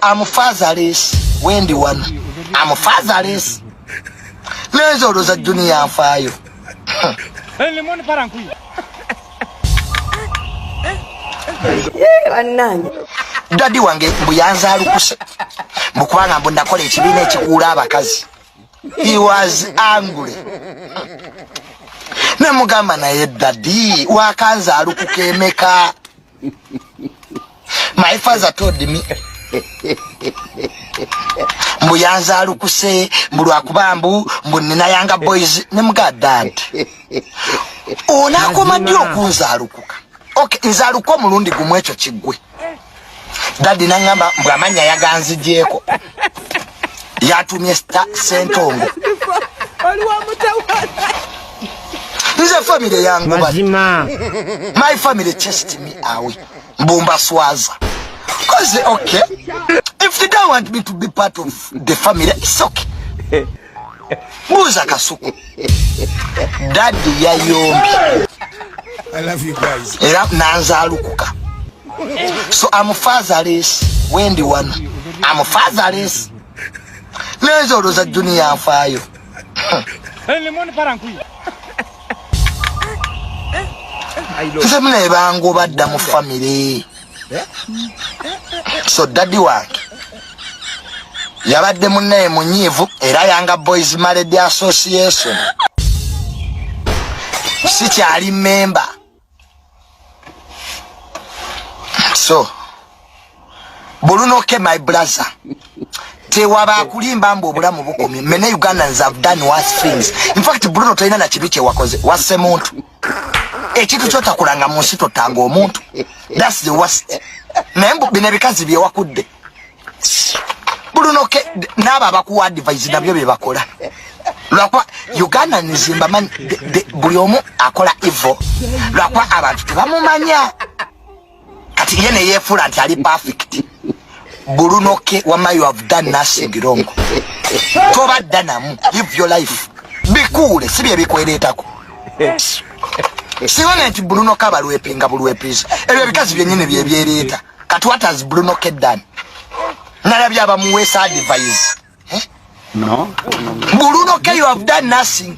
I'm fatherless wendi wano I'm fatherless neza oloza junior nfaayo bannange dadi wange mbu yanzaalukuse mbu kubanga mbu nakola ekibiina ekikuula abakazi he was angry namugamba naye dadi wakanzaalukuka emeka my father told me mbu yanzalukuse mbu lwakuba mbu mbu nina yanga boys ne mga dad onakoma ddi okunzalukuka ok nzaluka omulundi gumu ekyo kiggwe dadi nangamba mbu amanya yaganzijeeko yatumye sentongo nze famire yangu mazima my family chest me awe mbumba swaza cause okay if they don't want me to be part of the family it's okay Muza kasuku. Daddy ya yombi. I love you guys. Era nanza alukuka. So I'm fatherless. Wendi wana. I'm fatherless. Nezo roza dunia afayo. Ele moni parankui. Nze mune bango badda mu family. so daddy wange yabadde munnaye munyiivu era yanga boys maledi association sikyali memba so bulunoke my brother tewaba akulimba mbu obulamu bukomye mene ugandans have done worse things in fact bruno tolina na kibi kyewakoze wasse muntu ekintu kyotakulanga mu nsi totanga omuntu thats the worst naye mbu bino ebikazi byewakudde bulunoke naabo abakuwa advise nabyo byebakola lwakuba uganda nzimbamanyi buli omu akola ivo lwakuba abantu tebamumanya kati ye neyefuula nti ali perfect bulunoke wama you have done nothing wrong tobadda namu live your life bikuule si bye bikwereetako siwona nti bulunoke abalwepinga bulwepiza ebyo ebikazi byenyini byebyereeta kati what has bulunoke done nalabye abamuweesa advise eh? no. bulunoke you have done nothing